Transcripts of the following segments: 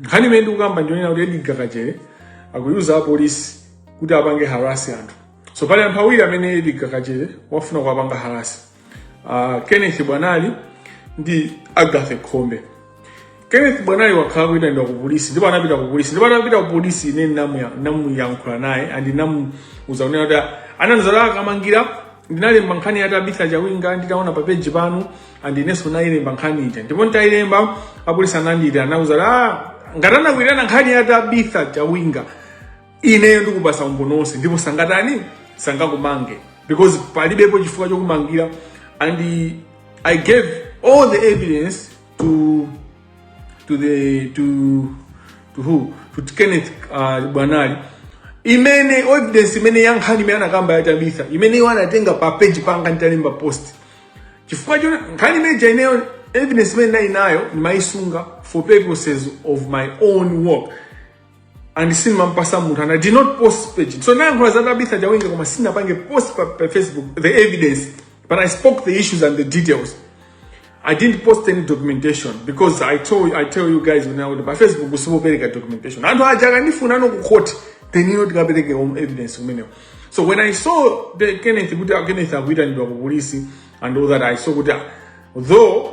nkhani imene ndikukamba ndionena kuti Edgar Kachere akuyuza apolisi kuti apange harasi anthu so pali anthu awiri amene Edgar Kachere wafuna kuwapanga harasi uh, kenneth bwanali ndi agathe khombe Kenneth Bwanali wakhala akuyitanidwa ku polisi ndipo anapita ku polisi ndipo anapita ku polisi ine ndinamuyankhula naye and ndinamuuza kunena kuti anzanga a Kamangira ndinalemba nkhani ya Tabitha Chawinga nditaona pa page panu and inenso ndayilemba nkhani ija ndipo nditayilemba apolisi anandiyitana ndinamuuza kuti ah ngati anakuitana nkhani ya Tabitha Chawinga ineyo ndikupasa umboni wonse ndipo sangatani sangakumange because palibepo chifukwa chokumangira and i gave all the evidence to to the to to who to kenneth uh, bwanali imene evidence imene ya nkhani imene anakamba ya tabitha imene iwo anatenga pa page panga nditalemba post chifukwa choti nkhani imeja ineyo evidence imene ndili nayo ndimayisunga for purposes of my own work and sindimampasa munthu and i did not post pa page so ndinayankhula za tabitha chawinga koma sinapange post pa, pa facebook the evidence but i spoke the issues and the details i didn't post any documentation because i told i tell you guys when you are pa facebook usizipereka documentation anthu aja akandifuna ine ku court then ine ndikapereke evidence kumeneko so when i saw the kenneth kuti ah, kenneth akuitanidwa ku polisi and all that i saw kuti ah, though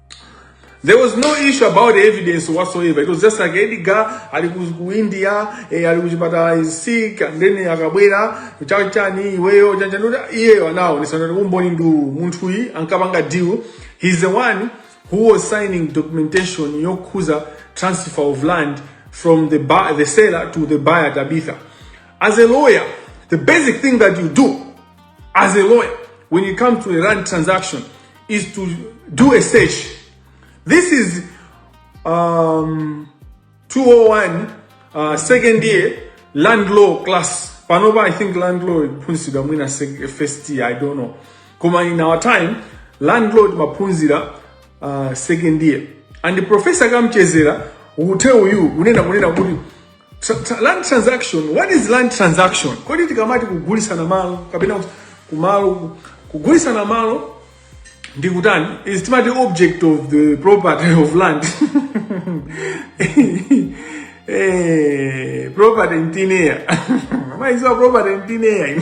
There was no issue about evidence whatsoever. It was just like Edgar ali ku India, eh, ali kuchipatala is sick and then akabwera chachani iweyo chanchanuta iyeyo anaonesa kuti umboni ndi uwu. munthu yi ankapanga deal. He's the one who was signing documentation yokhuza transfer of land from the buy, the seller to the buyer Tabitha. As a lawyer, the basic thing that you do as a lawyer when it comes to a land transaction is to do a search. This is um, 201 uh, second year land law class. Panoba, I think land law iphunzidwa mwina first year, I don't know. Koma in our time, land law maphunzira uh, second year. And the professor kamchezera will tell you, unena kunena kuti Tra- tra- land transaction what is land transaction kodi tikamati kugulitsana malo kapena kuti kumalo kugulitsana malo ndi kutani is the timati object of the property of land eh, property in thin air mumaiziwa property in thin air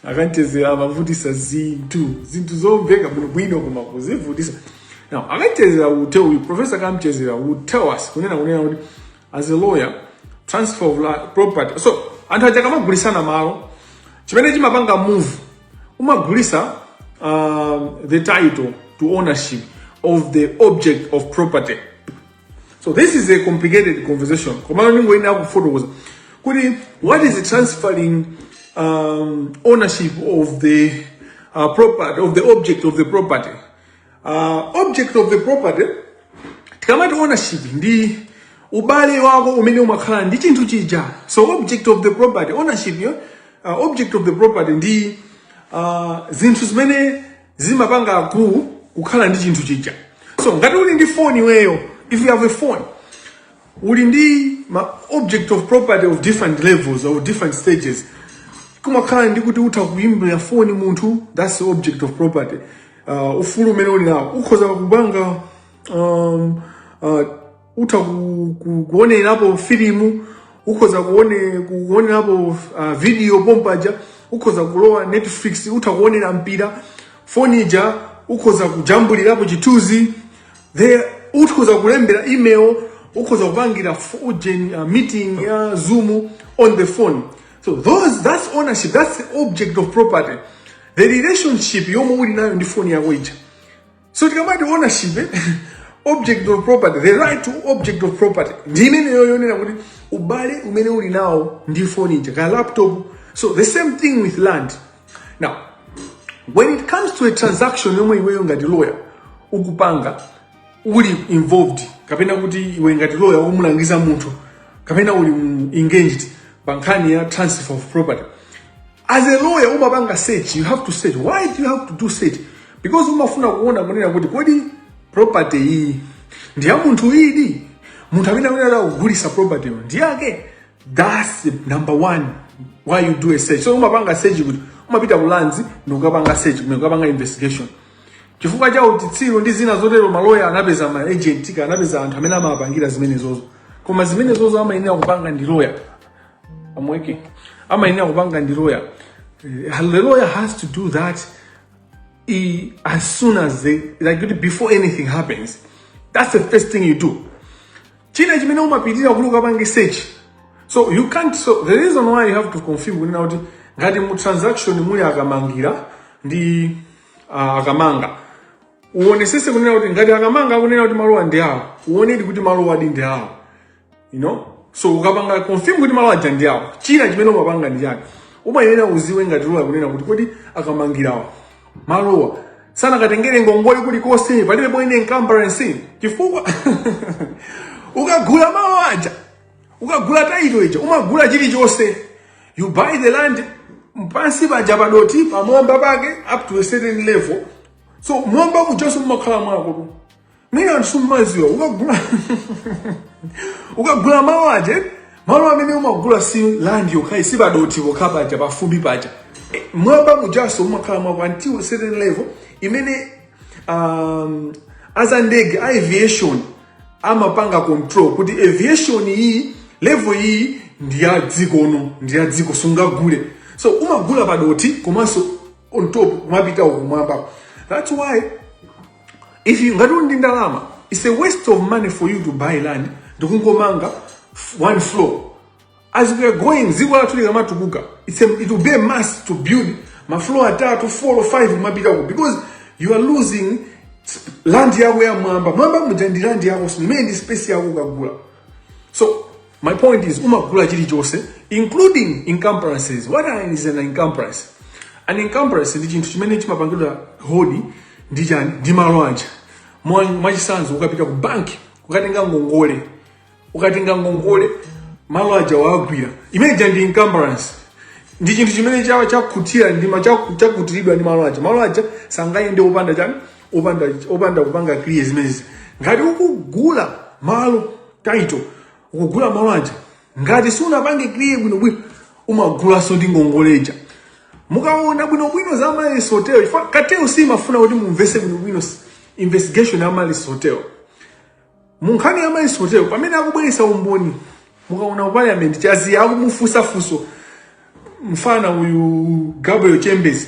a Kamchedzera amavutisa zinthu zinthu zomveka bwinobwino koma kuzivutisa now a Kamchedzera will tell you professor Kamchedzera will tell us kunena kunena kuti as a lawyer transfer of la- property so anthu aja akamagulisana malo chimene chimapanga move umagulitsa um, the title to ownership of the object of property so this is a complicated conversation komano ndingoyenera kufotokoza kuti what is transferring um, ownership of the uh, property of the object of the property uh, object of the property tikamati ownership ndi ubale wako umene umakhala ndi chinthu chija so object of the property ownership yo uh, object of the property ndi uh, zinthu zimene zimapanga akulu kukhala ndi chinthu chija so ngati uli ndi foni iweyo if you have a phone uli ndi ma object of property of different levels or different stages kumakhala ndi kuti utha kuimbira foni munthu that's the object of property uh, ufulu umene uli nawo ukhoza kupanga um, uh, utha ku- ku- kuonerapo filimu ukhoza kuone- kuonerapo uh, video pompaja ukhoza kulowa netflix utha kuonera mpira foni ija ukhoza kujambulirapo chithunzi then ukhoza kulembera email ukhoza kupangira f- ujeni, uh, meeting ya zoom on the phone so those, that's ownership that's the object of property the relationship yomwe uli nayo ndi foni yako ija so tikamati ownership eh, object of property the right to object of property ndi imeneyo yonena kuti ubale umene uli nawo ndi foni ija kaya laptop so the same thing with land now when it comes to a transaction yomwe iweyo ngati lawyer ukupanga uli involved kapena kuti iwe ngati lawyer umulangiza munthu kapena uli mu- engaged pa nkhani ya transfer of property as a lawyer umapanga search you have to search why do you have to do search because umafuna kuona kunena kuti kodi property iyi ndi ya munthu idi munthu amene amene akugulisa property yo ndi yake that's the number one why you do a search so umapanga search kuti umapita ku Lands ndikukapanga search ndikukapanga investigation chifukwa cha uchitsiru ndi zina zotero maloya anapeza ma agent kaya anapeza anthu amene amapangira zimenezozo koma zimenezozo amayenera kupanga ndi lawyer amwene amayenera kupanga ndi loya Eh, the lawyer has to do that eh, as soon as they, like kuti before anything happens that's the first thing you do china chimene umapitira kuti ukapange search so you can't so the reason why you have to confirm kunena kuti ngati mu transaction muli akamangira ndi uh, akamanga uonesese kunena kuti ngati akamanga akunena kuti malowa ndi awo uonedi kuti malowadi ndi awo you know so ukapanga confirm kuti malo aja ndi awo china chimene umapanga ndi chakuti umayenera uziwe ngati lawyer kunena kuti kodi akamangirawa malowa sanakatengere ngongole kulikonse palibe any encumbrance chifukwa ukagula malo aja ukagula title ija umagula chilichonse you buy the land pansi paja padoti pamwamba pake up to a certain level so mwamba mujanso mumakhala mwakotu mwina anthu mmaziwa ukagula ukagula malo aja malo amene umagula si land yokhayi si padoti pokha paja pafumbi paja Eh, mwamba mujaso mumakhala mwako until a certain level imene um, azandege a aviation amapanga control kuti aviation iyi level iyi ndi ya dziko uno ndi ya dziko sungagule so umagula padoti komanso on top kumapita kumwamba that's why if you ngati ndi ndalama it's a waste of money for you to buy land ndikungomanga one floor as we are going dziko lathu likamatukuka it's a, it will be a must to build mafloor atatu 4 or 5 kumapitako because you are losing land yako ya mwamba mwamba muja ndi land yako simene ndi space yako ukagula so My point is umagula chilichonse including encumbrances. What is an encumbrance? An encumbrance ndi chinthu chimene chimapangidwa hold ndi chani ndi malo aja. Mwa- Mwachisanzo ukapita ku banki ukatenga ngongole ukatenga ngongole malo aja wagwira imeneja ndi encumbrance ndi chinthu chimene chawa chakutira ndi ma- chaku- chakutiridwa ndi malo aja malo aja sangayende opanda chani opanda opanda kupanga clear zimenezi ngati ukugula malo title ukugula malo aja ngati sunapange clear bwinobwino umagulanso ndi ngongole ija mukaona bwinobwino za Amaryllis Hotel ifa- kateo simafuna kuti mumvese bwinobwino s- investigation ya Amaryllis Hotel munkhani ya Amaryllis Hotel pamene akubweresa umboni mukaona ku parliament chaziya akumufunsa funso mfana uyu Gabriel Chembezi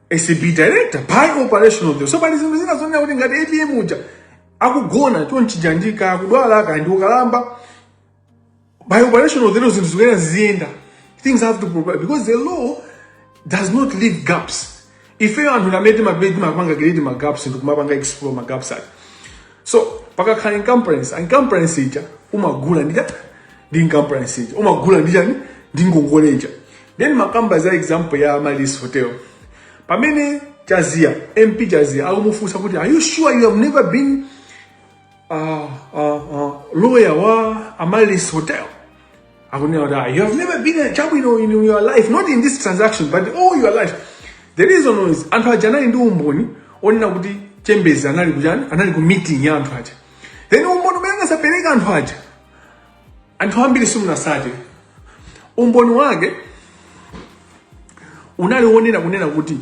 acb director by operation of the law so pali zinthu zina zonena kuti ngati apm uja akugona chonchija ndi kaya akudwala kaya ndi ukalamba by operation of the law zinthu zikuyenera ziziyenda things have to provide because the law does not leave gaps ifeyo anthu amene timapita timapanga create magaps ndi kumapanga explore magaps aja so pakakhala encumbrance encumbrance ija umagula ndi chani ndi encumbrance ija umagula ndi chani ndi ngongole ija then makamba za example ya Amaryllis Hotel pamene Chaziya MP Chaziya akumufunsa kuti are you sure you have never been uh, uh, uh, lawyer wa Amaryllis Hotel akunena kuti ah, you have never been a chabwino in your life not in this transaction but all your life the reason is anthu aja anali ndi umboni onena kuti chembezi anali kuchani anali ku meeting ya anthu aja then umboni umene anadzapereka anthu aja anthu ambiri simunasate umboni wake unali wonena kunena kuti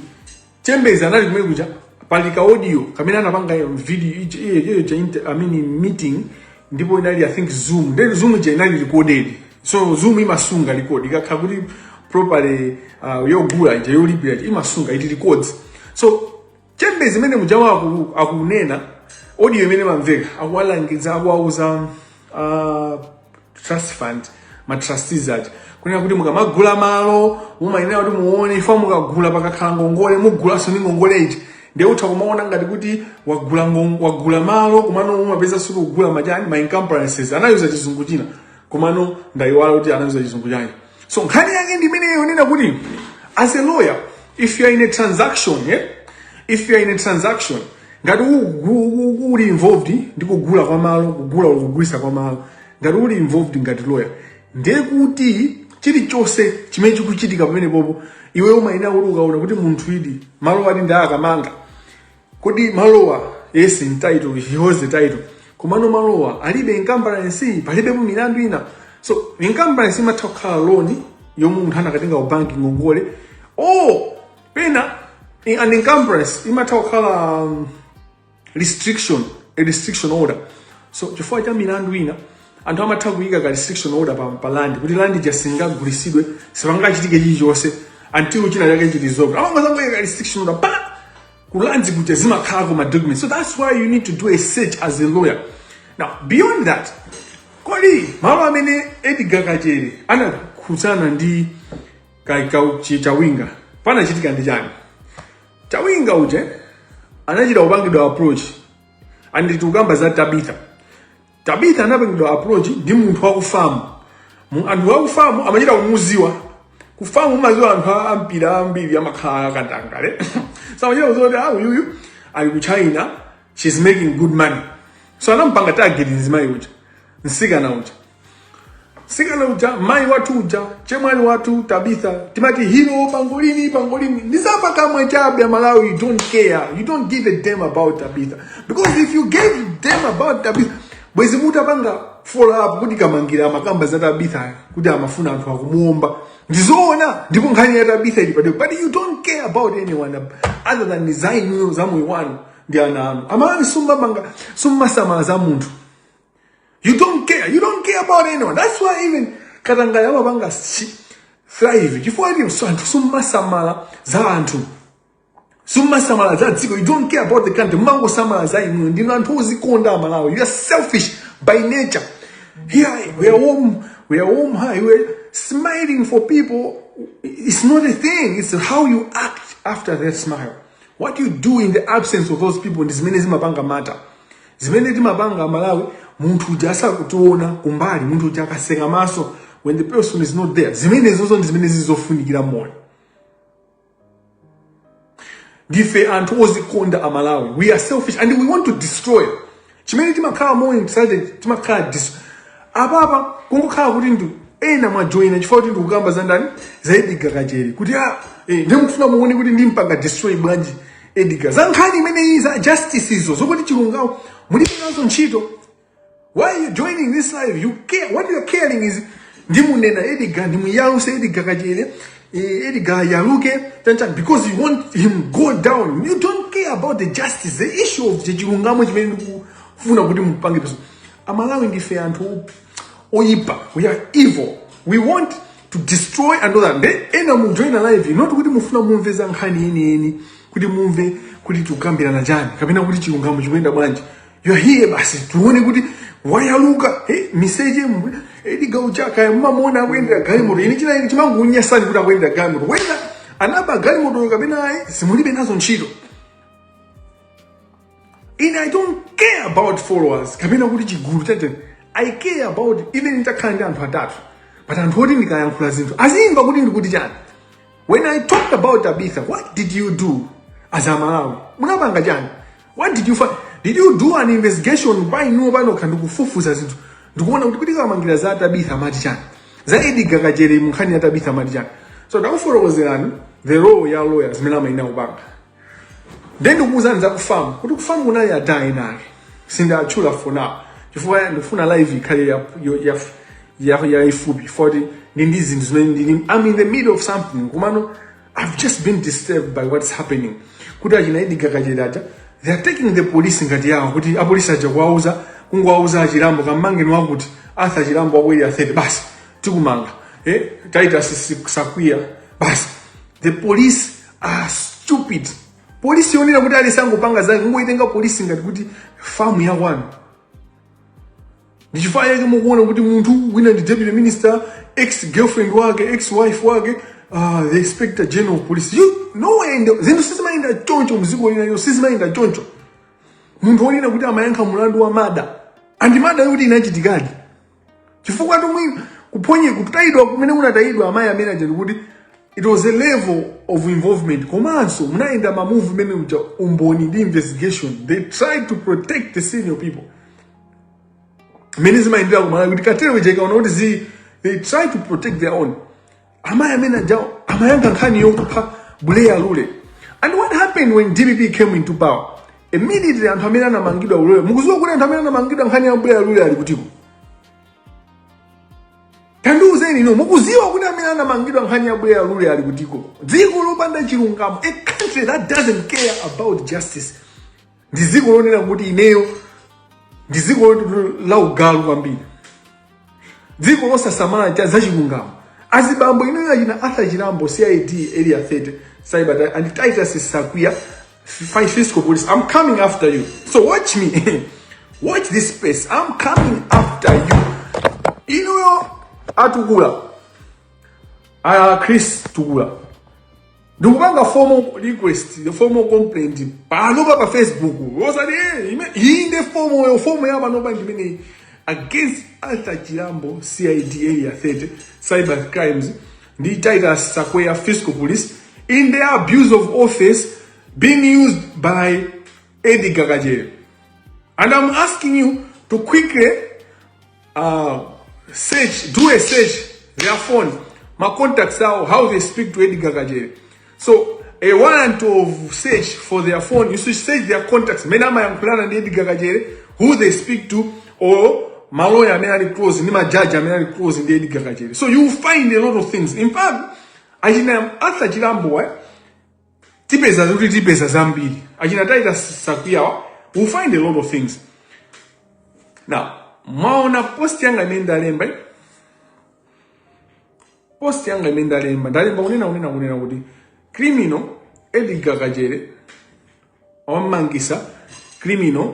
chembezi anali kumene kuja pali ka audio kamene anapanga video ija- iyo- iyo ija inter- I mean meeting ndipo inali i think zoom then zoom ija inali recorded so zoom imasunga record ikakhala kuti properly uh, yogula ija yolipira ija imasunga it records so chembezi mmene mujawa aku- akunena audio imene amamveka akuwalangiza akuwauza uh, trust fund ma trustees aja kunena kuti mukamagula malo mumayenera kuti muone ifa mukagula pakakhala ngongole mugulanso ndi ngongole ija ndiye utha kumaona ngati kuti wagula ngon- wagula malo komano umapezaso uli kugula machani ma encumbrances anayuza chizungu china komano ndayiwala kuti anayuza chizungu chani so nkhani yake ndi imene yonena kuti as a lawyer if you are in a transaction yeah? if you are in a transaction ngati u- u- u- uli involved ndi kugula kwa malo kugula or kugulisa kwa malo ngati uli involved ngati lawyer ndiye kuti chilichonse chimene chikuchitika pamenepopo iwe umayenera kuti ukaona kuti munthuyidi malo ati ndi akamanga kodi malowa yes in title he holds the title komano malowa alibe encumbrance palibepo milandu ina so encumbrance imatha kukhala loan yomwe munthu anakatenga ku banki ngongole or pena in- an encumbrance imatha kukhala um, restriction a restriction order so chifukwa cha milandu ina anthu amatha kuyika ka restriction order pa, pa land kuti land ija singagulisidwe sipangachitike chilichonse until china chake chili resolved amangozangoyika ka restriction order pa ku lands kuja zimakhalako ma documents so that's why you need to do a search as a lawyer now beyond that kodi malo amene edgar kachere anakhudzana ndi ka- ka- chi- chawinga panachitika ndi chani chawinga uje anachita kupangidwa approach and tikukamba za tabitha tabitha anapangidwa approach ndi munthu wa kufamu Mu- anthu wa kufamu amachita kumuziwa kufamu kumaziwa anthu a- a mpira ambiri amakhala akatangale so amachita kuziwa kuti ah uyuyu ali ku china she's making good money so anampanga target mzimayi uja msikana uja sikana uja mai watu uja chemwali watu tabitha timati hero pangolini pangolini ndi zapakamwa chabe amalawi you don't care you don't give a damn about tabitha because if you gave a damn about tabitha bwezi mutapanga follow up kuti kamangila amakamba za tabitha kuti amafuna anthu akumuomba ndizoona ndipo nkhani ya tabitha ili pa desk but you don't care about anyone other than desire za moyo wanu ndi ana anu amalawi simumapanga simumasamala za munthu You don't care. You don't care about anyone. That's why even katangale amapanga si- thrive. Chifukwa ati so anthu summasamala za anthu. Summasamala za dziko. You don't care about the country. Mmangosamala za inu. Ndinu anthu ozikonda amalawi. You are selfish by nature. Here we are warm. We are warm high. We are smiling for people. It's not a thing. It's how you act after that smile. What you do in the absence of those people is many zimapanga matter. zimene timapanga amalawi munthu uja asakutiona kumbali munthu uja akatseka maso when the person is not there zimenezozo ndi zimene zizofunikira moyo ndife anthu ozikonda amalawi we are selfish and we want to destroy chimene timakhala moyo excited timakhala dis apapa kungokhala kuti ndi ena mwajoyina chifukwa kuti ndikukamba za ndani za edgar kachere kuti ah, eh, ndi mukufuna muone kuti ndimpanga destroy bwanji Edgar, za nkhani imeneyi za justice izo zokuti chilungamo mulibe nazo ntchito. Why are you joining this live? You care. What you are caring is ndimunena Edgar, ndimuyaluse Edgar Kachere. eh, Edgar ayaluke chani chani because you want him go down. You don't care about the justice, the issue of the chilungamo chimene ndikufuna kuti mupange pursue. Amalawi ndife anthu oyipa. We are evil. We want to destroy another nde ena mujoina live not kuti mufuna mumve za nkhani yeniyeni kuti mumve kuti tikukambirana chani kapena kuti chilungamo chikuyenda bwanji you're here basi tione kuti wayaluka hey, miseche mwe edgar wa chaka mumamuona akuyendera galimoto inu china chimangokunyasani kuti akuyendera galimoto wenda anaba galimotoyo kapena ayi zimulibe nazo ntchito ine i don't care about followers kapena kuti chigulu chete i care about even nitakhala ndi anthu atatu but anthu oti ndikayankhula zinthu azimva kuti ndikuti chani when i talked about tabitha what did you do as a malawi munapanga chani what did you find did you do an investigation pa inuwo panokha ndikufufuza zinthu ndikuona kuti kuti kamangila za tabitha amati chani za edgar kachere munkhani ya tabitha amati chani so ndakufotokozerani the role ya lawyer zimene amayenera kupanga then ndikukuuzani za kufamu kuti kufamu kunali adaa enake sindiwatchula for now chifukwa ndikufuna live ikhale ya- yo- ya- ya- yaifupi poti ndi ndi zinthu zimene ndili i'm in the middle of something komano i've just been disturbed by what's happening kuti achina edgar kachere aja they are taking the police ngati yawo kuti apolisi aja kuwauza kungowauza achilambo kamangeni wakuti arthur chilambo wa ku area 30 basi tikumanga eh? titus sakwiya basi the police are stupid polisi yonena kuti aliyense angopanga zake kungoitenga polisi ngati kuti famu ya kwanu ndichifukwa chake mukuona kuti munthu wina ndi deputy minister ex girlfriend wake ex wife wake uh, the inspector general of police you know nowhere in the zinthu sizimayenda choncho mziko lina lino sizimayenda choncho munthu wonena kuti amayankha mulandu wa murder and murder yoti inachitikadi chifukwa tomwe kuphonye kutayidwa kumene kunatayidwa amayi amene aja ndikuti it was a level of involvement komanso munayendera ma movement muja umboni ndi investigation they tried to protect the senior people mmene zimayendera kumalawi kuti cartel ija ikaona kuti zi they try to protect their own amayi amene ajawo amayankha nkhani yokupha buleya lule and what happened when dpp came into power immediately anthu amene anamangidwa ulole mukuziwa kuti anthu amene anamangidwa nkhani ya buleya lule ali kutiko tandiuzeni inu mukuziwa kuti amene anamangidwa nkhani ya buleya lule ali kutiko dziko lopanda chilungamo a country that doesn't care about justice ndi dziko lonena kuti ineyo ndi dziko loti- la ugalu kwambiri dziko losasamala cha zachilungamo azibambo inuyo achina arthur chilambo cid area 30 cyber and titus sakwiya fi- fiscal police i'm coming after you so watch me watch this space i'm coming after you inuyo atukula a chris tukula ndikupanga formal request formal complaint panopa pa facebook osati eh, ime- iyi nde fomo yo fomo ya panopa ndimeneyi against arthur chilambo cid area 30 cyber crimes ndi titus sakwiya fiscal police in their abuse of office being used by edgar kachere and i'm asking you to quickly uh, search do a search their phone my contacts how how they speak to Edgar Kajere so a warrant of search for their phone you should search their contacts mene amayankhulana ndi Edgar Kajere who they speak to or maloya amene ali close ndi majaji amene ali close ndi Edgar Kajere so you will find a lot of things in fact achina Arthur Chirambo eh? tipeza kuti tipeza zambiri achina titus sakwiyawa we'll find a lot of things now mwaona post yanga imene ndalemba eh? post yanga imene ndalemba ndalemba kunena kunena kunena kuti criminal edgar kachere wamangisa criminal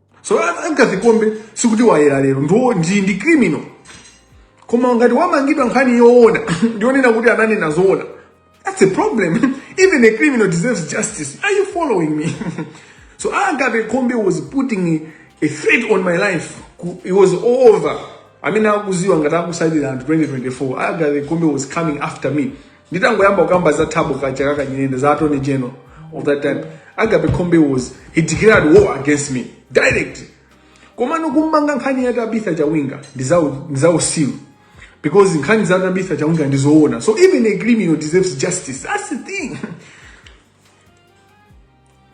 so agape khombe sikuti wayera lero ndo ndi ndi criminal koma ngati wamangidwa nkhani yoona ndionena kuti ananena zoona that's a problem even a criminal deserves justice are you following me so agape khombe was putting a threat on my life Ku- it was over amene akuziwa ngati akusatira anthu 2024 agape khombe was coming after me nditangoyamba kukamba za thabo ka- chakaka nyirenda za attorney general of that time agape khombe was he declared war against me direct komano kummanga nkhani ya tabitha chawinga ndi zau- ndi zausiru because nkhani za tabitha chawinga ndi zoona so even a criminal deserves justice that's the thing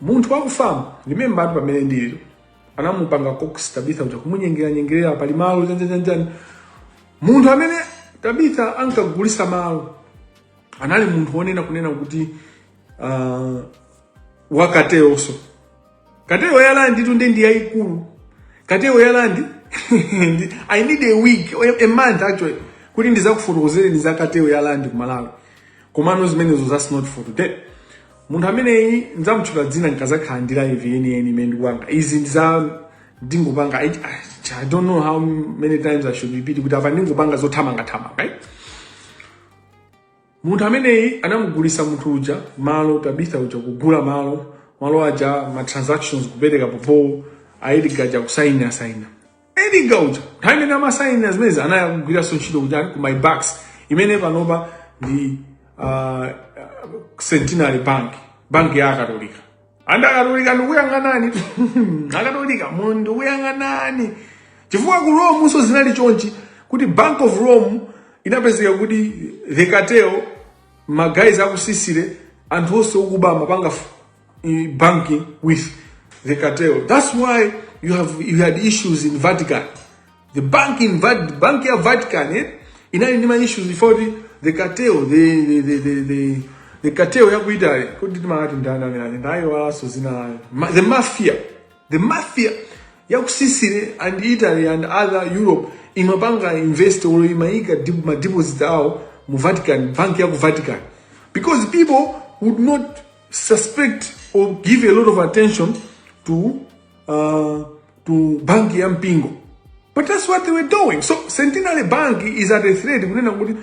munthu wakufamu remember ati pamene ndiliro anamupanga coax tabitha uja kumunyengera nyengerera pali malo chani chani chani munthu amene tabitha ankagulisa malo anali munthu wonena kunena kuti uh, wa cartel nso Cartel ya land tu nde ndi yaikulu. Cartel ya land I need a week, a month actually. Kuti ndizakufotokozereni za cartel ya land ku Malawi. Komano zimenezo that's not for today. Munthu ameneyi ndzamutchula dzina nkazakhala ndi live yeniyeni imene ndikupanga. Izi ndiza ndingopanga I, I don't know how many times I should repeat kuti apa ndingopanga zothamanga thamanga. Right? Munthu ameneyi anamugulisa munthu uja malo Tabitha uja kugula malo malo aja ma transactions kupereka popo a Edgar aja kusaina saina Edgar uja nthawi imene amasaina zimenezi anali kugwiranso ntchito kuja ku my bucks imene panopa ndi uh, Centenary Bank banki ya Akatolika and akatolika ndikuyang'anani akatolika mu ndikuyang'anani chifukwa ku rome nso zinali chonchi kuti bank of rome inapezeka kuti the cartel maguys aku sicily anthu onse okuba amapanga f- i- banking with the cartel that's why you have you had issues in vatican the bank ya Vat- bank ya Vatican eh, inali ndi ma issues before the, the cartel the the the the, the, the cartel ya ku Italy kuti timati ndani amene ali ndayiwalaso zina layo Ma, the mafia the mafia ya ku Sicily and Italy and other Europe imapanga invest or imaika dip- ma deposits awo mu Vatican bank ya ku Vatican because people would not suspect or give a lot of attention to uh, to bank ya mpingo but that's what they were doing so centenary bank is at a threat kunena kuti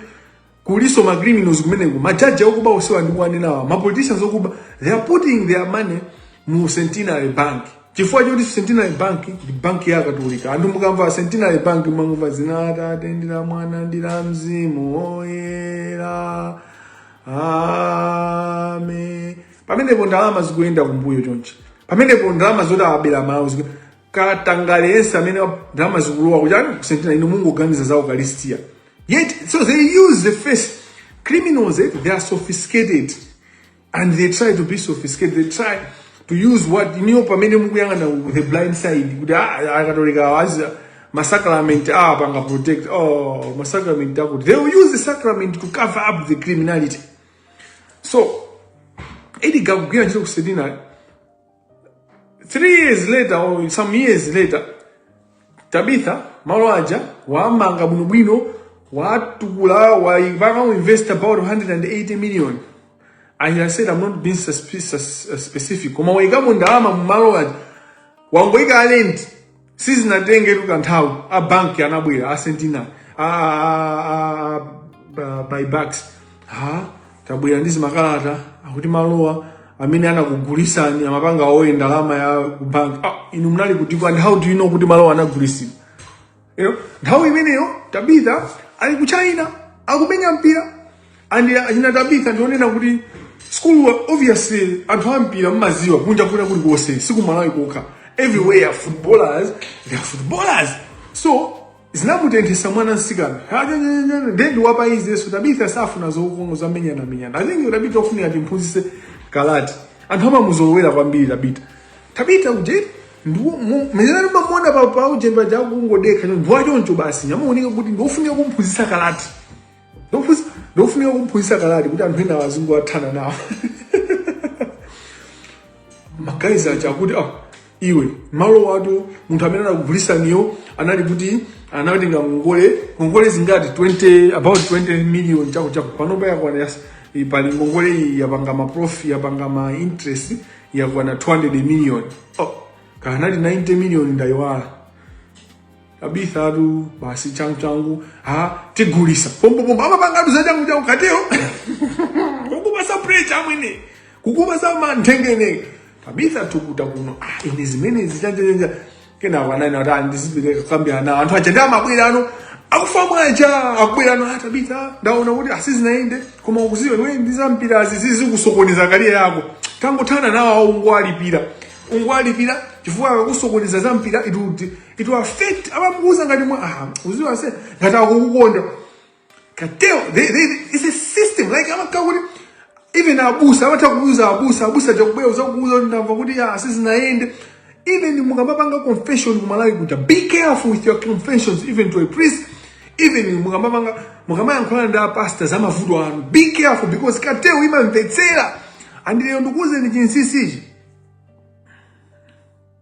kuliso ma criminals kumeneko majaji okuba osewa ndikuwanenawa ma politicians okuba they are putting their money mu centenary bank chifukwa choti centenary bank ndi bank ya katolika anthu mukamva centenary bank mumangomva zina la atate ndi la mwana ndi la mzimu oyera amen pamenepo ndalama zikuyenda kumbuyo chonchi pamenepo ndalama zoti abera amalawi ziku- katangale yense amene wa- ndalama zikulowa kuchani ku Centenary inu mungoganiza za ukalistia yet so they use the face criminals eh, they are sophisticated and they try to be sophisticated they try to use what niyo pamene mukuyang'ana ku the blind side kuti ah, akatolika awa za masacrament ah, panga protect oh, masacrament akuti they will use the sacrament to cover up the criminality so Edgar akugwira ntchito ku Centenary three years later or some years later tabitha malo aja wamanga bwinobwino watukula wapanga invest about 180 million and i said i'm not being suspi- sus- uh, specific koma waikamo ndalama mumalo aja wangoika alenti sizinatengetu kanthawi a banki anabwera a Centenary a, a, a, a ba- buybacks ha tabwera ndi zimakalata akuti malowa amene anakugulisani amapanga owe ndalama ya ku bank ah, inu munali kutiko and how do you know kuti malowa anagulisidwa you know, nthawi imeneyo tabitha ali ku china akumenya mpira and achina tabitha ndionena kuti school obviously anthu ampira mmaziwa kunja kuno kuli konse sikumalawi kokha everywhere footballers they are footballers so zinamutenthesa mwana msikana ndendi wa peace so tabitha safuna zokongola zomenyana menyana i think tabitha ofunika timphunzise karate anthu amamuzolowera kwambiri tabitha tabitha ujeni mwezerani mamuona pa pa ujeni paja kungodekha ndiwachoncho basi ndamuona kuti ndiofunika kumphunzisa karate Ndofusa- ndofunika kumphunzitsa karate kuti anthu enawo azingowathana nawo magayizi aja akuti ah, iwe malo watu munthu amene anakugulitsaniyo anali kuti anatenga ngongole ngongole zingati 20 about 20 million chakuti chakuti panopa yakwana yas- i- pali ngongole iyi yapanga ma prof yapanga ma interest yakwana 200 million oh, kaya anali 90 million ndayiwala Tabitha tu basi changu changu ha tigulisa pompopompo amapangatu za changu changu cartel kukupasa pressure amwene kukupasa manthengene Tabitha tukuta kuno ah ine zimene zichanjanja kena wanani wata ndizibire kukambirana anthu aja ndi amabwera ano akufamu aja akubwera ano a Tabitha ndaona kuti a sizinayende koma ukuziwe iwe ndi za mpira izizi zikusokoneza career yako tangothana nawo awo ungowalipira ungowalipira chifukwa akakusokoneza za mpira it would it will affect amamuuza ngati mwa aha uziwa se ngati akukukonda cartel they, they, it's a system like amakhala kuti even abusa amatha kuuza abusa abusa aja kubwera uzakuuza kuti ndamva kuti ya sizinayende even mukamapanga confession kumalawi kuja be careful with your confessions even to a priest even mukamapanga mukamayankhulana ndi apasta za mavuto anu be careful because cartel imamvetsera and lero ndikuuzeni chinsinsichi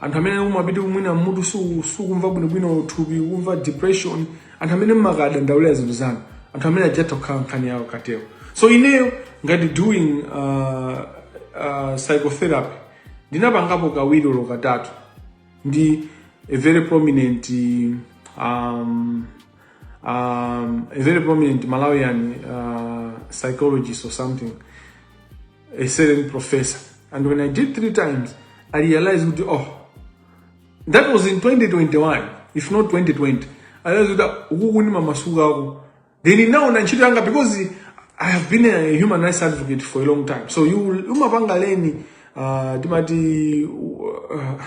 anthu amene umapita mwina mutu sukumva bwinobwino thupi kumva depression anthu amene mmakadandaulira zinthu zanu anthu amene aja atha kukhala nkhani yawo cartel so ineyo ngati doing uh, uh, psychotherapy ndinapangapo kawiri olo katatu ndi a very prominent um, um, a very prominent malawian uh, psychologist or something a certain professor. And when I did three times, I realized, oh, that was in 2021, if not 2020. I realized that mamasuga Then in now ntchito yanga because I have been a human rights advocate for a long time. So you umapanga leni uh, timati uh,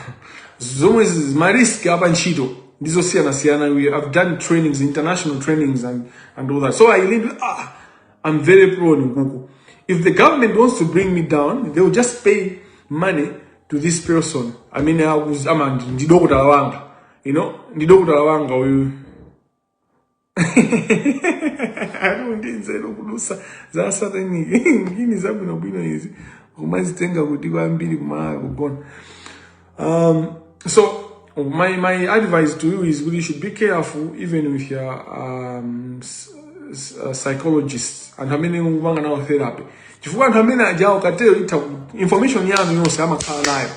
zomwe marisk apa ntchito ndizosiyana siyana. I've done trainings, international trainings and, and all that. So I learned, ah, I'm very pro on Google. If the government wants to bring me down, they will just pay money to this person. amene ndi dokotala wanga. You know, ndi dokotala wanga uyu. Ali ndi nzeru kulusa za satanic ngini zabwino bwino izi. Kumazitenga kuti kwambiri kumala kugona. Um, so my, my advice to you is kuti you should be careful even with your um, uh, psychologist anthu amene mukupanga nawo therapy chifukwa anthu amene ajawo cartel itha information yanu yonse amakhala nayo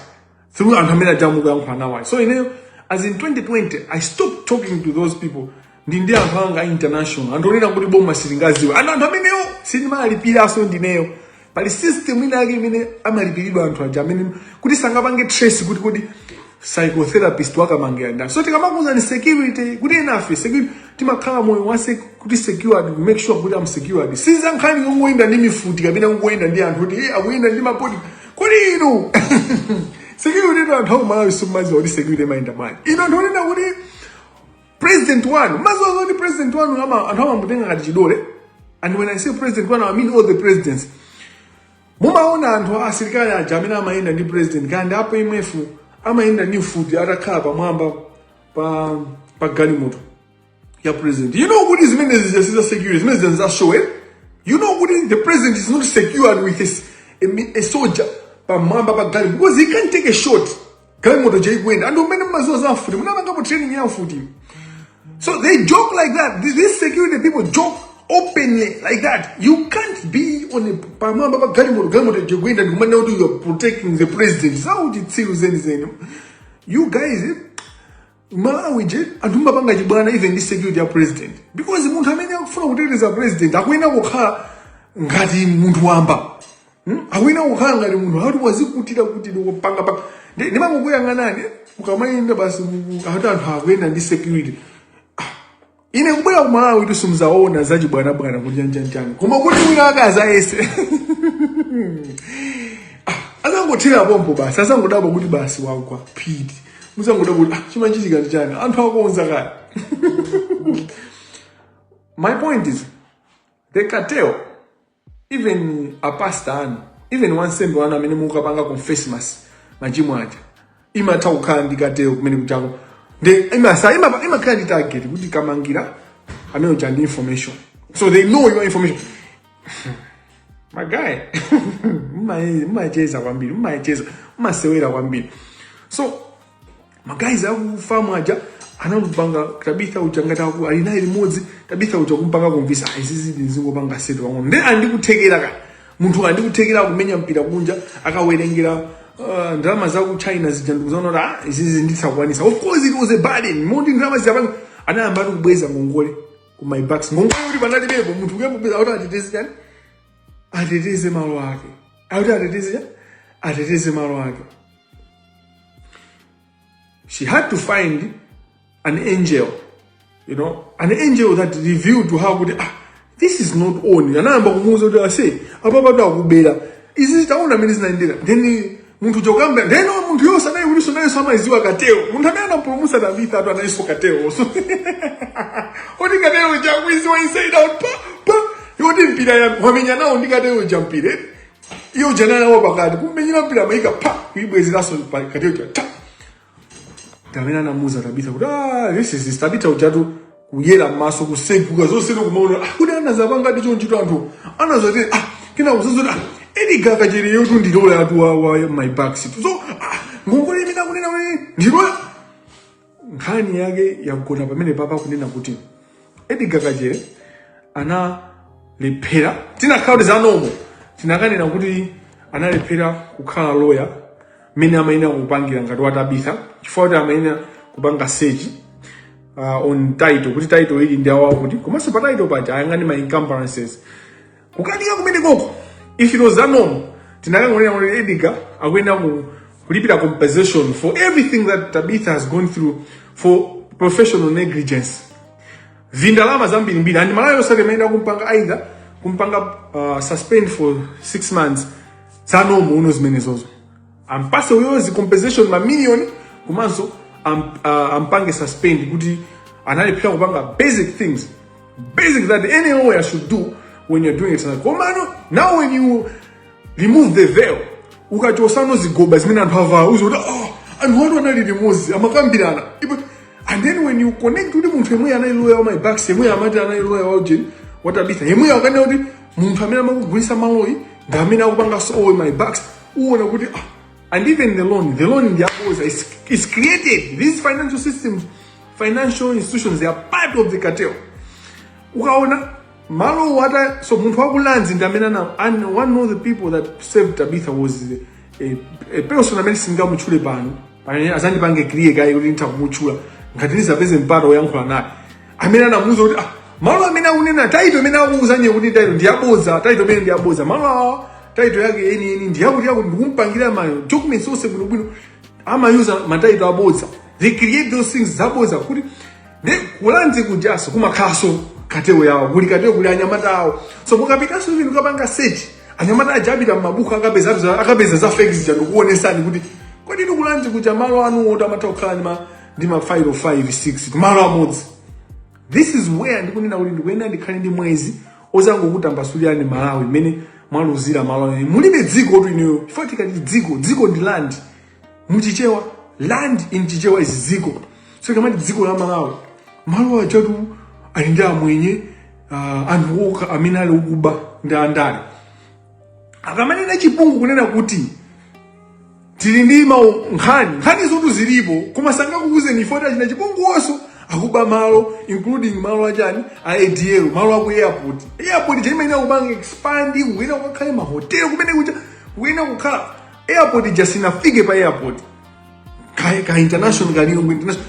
through anthu amene ajawo mukuyankhula nawo so ineyo as in 2020 i stopped talking to those people ndi ndi anthu anga international anthu onena kuti boma silingaziwe and anthu amenewo sindimalipiranso ndineyo pali system ina yake imene amalipiridwa anthu aja amene kuti sangapange trace kuti kodi psychotherapist wa Kamangila ndani so tikamakuuzani security kuti enafe security timakhala moyo wa sec- kuti secured make sure kuti am secured siza nkhani yongoyenda ndi mifuti kapena kungoyenda ndi anthu kuti eh, akuyenda ndi ma bodyguard inu security tu anthu akumalawi simumaziwa kuti security imayenda bwanji ino ndionena kuti president wanu maziwazo ndi president wanu ama- anthu amamutenga ngati chidole and when i say president wanu i mean all the presidents mumaona anthu a asilikali aja amene amayenda ndi president kaya ndi a PMF amayenda ndi mfuti atakhala pamwamba pa pa galimoto ya president you know kuti zimene zija siza security zimene zija za show eh? you know kuti the president is not secured with a, s- a, mi- a soldier pamwamba pa galimoto because he can't take a shot galimoto chaikuenda anthu amene mmaziwa za mfuti munapangapo training ya mfuti so they joke like that these these security people joke openly like that you can't be on a pamwamba pa galimoto galimoto chaikuenda ndikumanena kuti you are protecting the president zauchitsiru zenizeni you guys eh? malawi che anthu mumapanga chibwana even ndi security ya president because munthu amene akufuna kuteteza president akuyenera kukhala ngati munthu wamba Hmm? akuyenera kukhala ngati munthu akuti wazikutira kuti ndikupanga pa ndi- ndimangokuyang'anani ukamayenda basi mu- mu- akuti anthu akuyenda ndi security ine kubwera ku malawi kuti simudzaona zachibwanabwana kuti chani chani chani koma kuti wina ake azayese azangothera pompo basi azangodabwa kuti basi wagwa phiti muzangodabwa kuti ah, chimanchitika ndi chani anthu akonza kale my point is the cartel even a pastor anu even wansembe wanu amene mukapanga confess mas machimo aja imatha kukhala ndi cartel kumene kutchako ndi imasa ima- imakhala ndi target kuti kamangira amene uja ndi information so they know your information my guy mma- mmacheza kwambiri mmacheza mmasewera kwambiri so ma guys aku FAM aja anamupanga tabitha uja ngati aku- ali naye limodzi tabitha uja kumpanga kumvisa "Ah, izizi ndizingopanga setu pang'ono then andikutheketsera ka munthu andikutheketsera kumenya mpira kunja akawerengera uh, ndalama za ku china zija ndikuzaona kuti ah, izizi ndizakwanisa of course it was a burden moti ndalama ziyapanga anayamba ati kubweza ngongole ku MyBucks ngongole kuti panalibepo munthu kuyamba kubweza kuti ateteze chani ateteze malo ake akuti ateteze chani ateteze malo ake She had to find an angel, you know, an angel that revealed to her kuti ah, this is not on. Anayamba kumuuza kuti ase apa patu akubera. Izi taona mmene zinaendera. Then munthu chokamba then munthu yonse anayi kulinso nayenso amayiziwa cartel. Munthu amene anapulumutsa Tabitha atu analinso cartel. So oti cartel cha akuiziwa inside out pa pa yoti mpira ya wamenya nawo ndi cartel cha mpira. iyo jana nawo pakati kumenyera mpira amayika pa kuibwezeranso pa cartel cha ta amene anamuuza tabitha kuti ah this is tabitha ujatu kuyera maso kuseguka zonse nokumaona ah, kuti anazapanga ndicho ntchito anthu anazati ah kina uzazoti ah edgar kachere yotu ndi loya atu wa, wa MyBucks eti so ah ngongole imene akunena kuti ndi loya nkhani yake yagona pamene papa kunena kuti edgar kachere analephera tinakhala kuti zanomo tinakanena kuti analephera kukhala loya mmene amayenera kupangira ngati wa tabitha chifukwa kuti amayenera kupanga search uh, on title kuti title iyi ndi awawo kuti komanso pa title paja ayang'ane ma encumbrances kukanika kumene koko if it was that normal tinakangonena kuti edgar akuyenera kulipira compensation for everything that tabitha has gone through for professional negligence vindalama zambirimbiri and malawi sosayite imayenera kumpanga either kumpanga uh, suspend for six months zanomo uno zimenezozo ampatse uyo zicompensation mamiliyoni komanso am, uh, ampange suspend kuti analephera kupanga basic things basic that any lawyer should do when you're doing exercise komano now when you remove the veil ukachosa no zigoba zimene anthu avala uziona oh, anthu awatu anali limodzi amakambirana Ipo- and then when you connect kuti munthu yemwe anali lawyer wa my backs yemwe amati anali lawyer wa ujeni wa tabitha yemwe akanena kuti munthu amene amamugulisa malowo ndi amene akupanganso owe my backs uona kuti ah, and even the loan the loan ndi yaboza is, is created these financial systems financial institutions they are part of the cartel ukaona malo awa so munthu waku lands ndi amene ana and one of the people that saved tabitha was a, a person amene singamutchule pano pamene azandipange clear kaye kuti nditha kumutchula ngati ndizapeze mpata woyankhula naye amene anamuuza kuti ah, malo amene akunena title imene akuuza iwe kuti title ndi yabodza title imene ndi yabodza malo awa title yake yeniyeni ndi yakuti yakuti ndikumpangira ma documents onse bwinobwino amayuza ma title abodza they create those things zabodza kuti ndi ku lands kujaso kumakhalaso cartel yawo kuli cartel kuli anyamata awo so mukapitaso even ukapanga search anyamata aja apita mmabuku akapeza za- akapeza za fake zija ndikuonesani kuti kodi ndi ku lands kuja malo anu oti amatha kukhala ndi ma ndi ma file 5 6 kumalo amodzi this is where ndikunena kuti ndikuyenera ndikhale ndi mwezi ozangokutambasulirani malawi mmene mwaluzira malawi mulibe dzikotu ineyo chifukwa tikati dziko dziko ndi land muchichewa land in chichewa is dziko so ikamati dziko la malawi malo aketu ali ndi amwenye uh, anthu okha amene ali okuba ndi andale akamanena chipungu kunena kuti tili ndi nkhani nkhani zotu zilipo koma sangakuuzeni chifukwa achina chipungu wonso akuba malo including malo achani a adl malo aku airport airport ija imayenera kupanga expand kuyenera kukakhale mahotelo kumene kuja kuyenera kukhala airport ija sinafike pa airport ka, ka international ka lilongwe international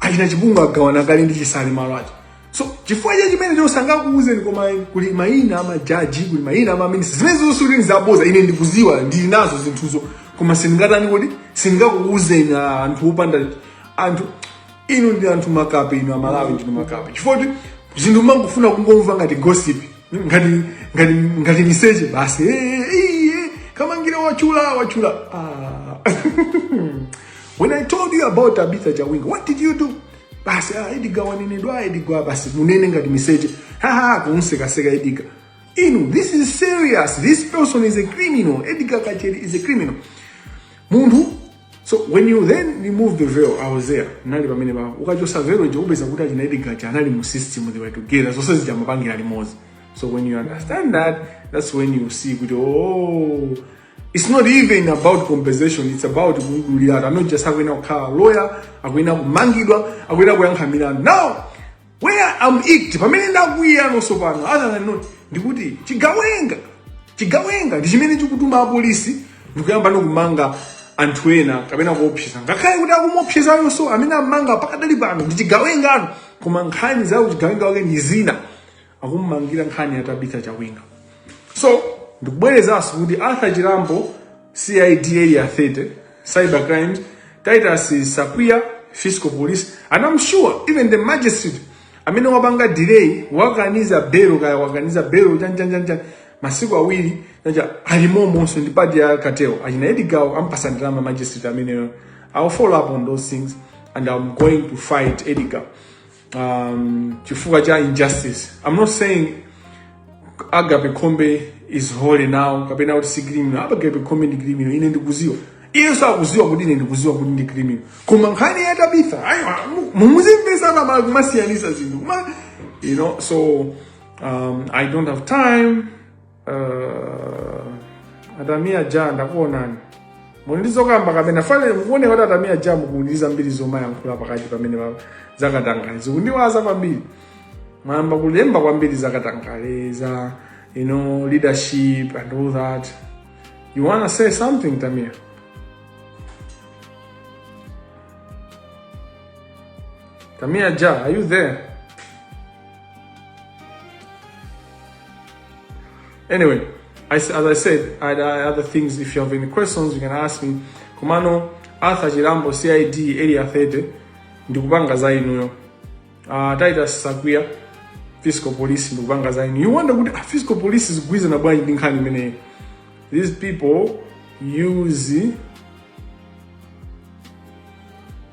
achina chipungu agawana kale ndi chisale malo aja so chifukwa cha chimenecho sangakuuzeni koma kuli mayina amajaji kuli mayina amaminister zimenezo sulini zaboza ine ndikuziwa ndili nazo zinthuzo koma sindingatani kuti sindingakuuzeni ah, anthu opanda anthu inu ndi anthu makape inu amalawi ndinu makape chifukwa kuti zinthu mangofuna kungomva ngati gossip ngati ngati ngati miseche basi Eh, eh, eh, kamangira watchula watchula ah. When I told you about Tabitha Jawinga, what did you do? Basi ah, Edgar wanenedwa Edgar basi munene ngati miseche. Ha ha kunseka seka Edgar. Inu, this is serious. This person is a criminal. Edgar Kacheri is a criminal. Munthu So when you then remove the veil, I was there. Nali pamene pa. Ukachosa veil nje upeza kuti achina Edgar Kacheri anali mu system they were together. So sasa jamapangira limozi. So when you understand that, that's when you see kuti oh It's not even about compensation, it's about kungulira. I'm not just akuyenera kukhala lawyer, akuyenera kumangidwa, akuyenera kuyankha milandu. Now, where I'm icked, pamene ndakwiya nonso pano, other than that, ndikuti chigawenga, chigawenga ndi chimene chikutuma apolisi ndikuyamba kumanga anthu ena kapena kuopseza ngakhale kuti akumuopsezayonso amene amanga pakadali pano ndi chigawenga naye koma nkhani za uchigawenga wake ndi zina akumumangira nkhani ya Tabitha Chawinga so ndikubwerezanso kuti Arthur Chirambo CID area 30 cyber crimes Titus Sapia fiscal police and I'm sure even the magistrate amene wapanga delay wakaniza belo kaya wakaniza belo chanchanchancha masiku awiri chacha alimomonso ndi part ya cartel achina Edgar ampasa ndalama magistrate ameneyo I'll follow up on those things and I'm going to fight Edgar um, chifukwa cha injustice i'm not saying agape khombe is holy now kapena kuti si criminal agape khombe ndi criminal ine ndikuziwa iyenso akuziwa kuti ine ndikuziwa kuti ndi criminal koma nkhani ya tabitha ayi mundimvese abale kumasiyanisa zinthu kuma you know so um, i don't have time Uh, atamia ja ndakuonani muli ndi zokamba kapena pano ndikuona kuti atamia ja mukuziyamba zomayankhula pakati pamenepa zakatangale zikundiwaza kwambiri mwayamba kulemba kwambiri zakatangale za you know leadership and all that you wanna say something tamia tamia ja are you there Anyway, as I said, I had other things. If you have any questions, you can ask me. Komano Arthur Chirambo CID area 30 ndikupanga za inuyo. Uh, Titus Sakwiya fiscal police ndikupanga za inuyo. You wonder kuti ah, fiscal police ikugwirizana bwanji ndi nkhani imeneyi. These people use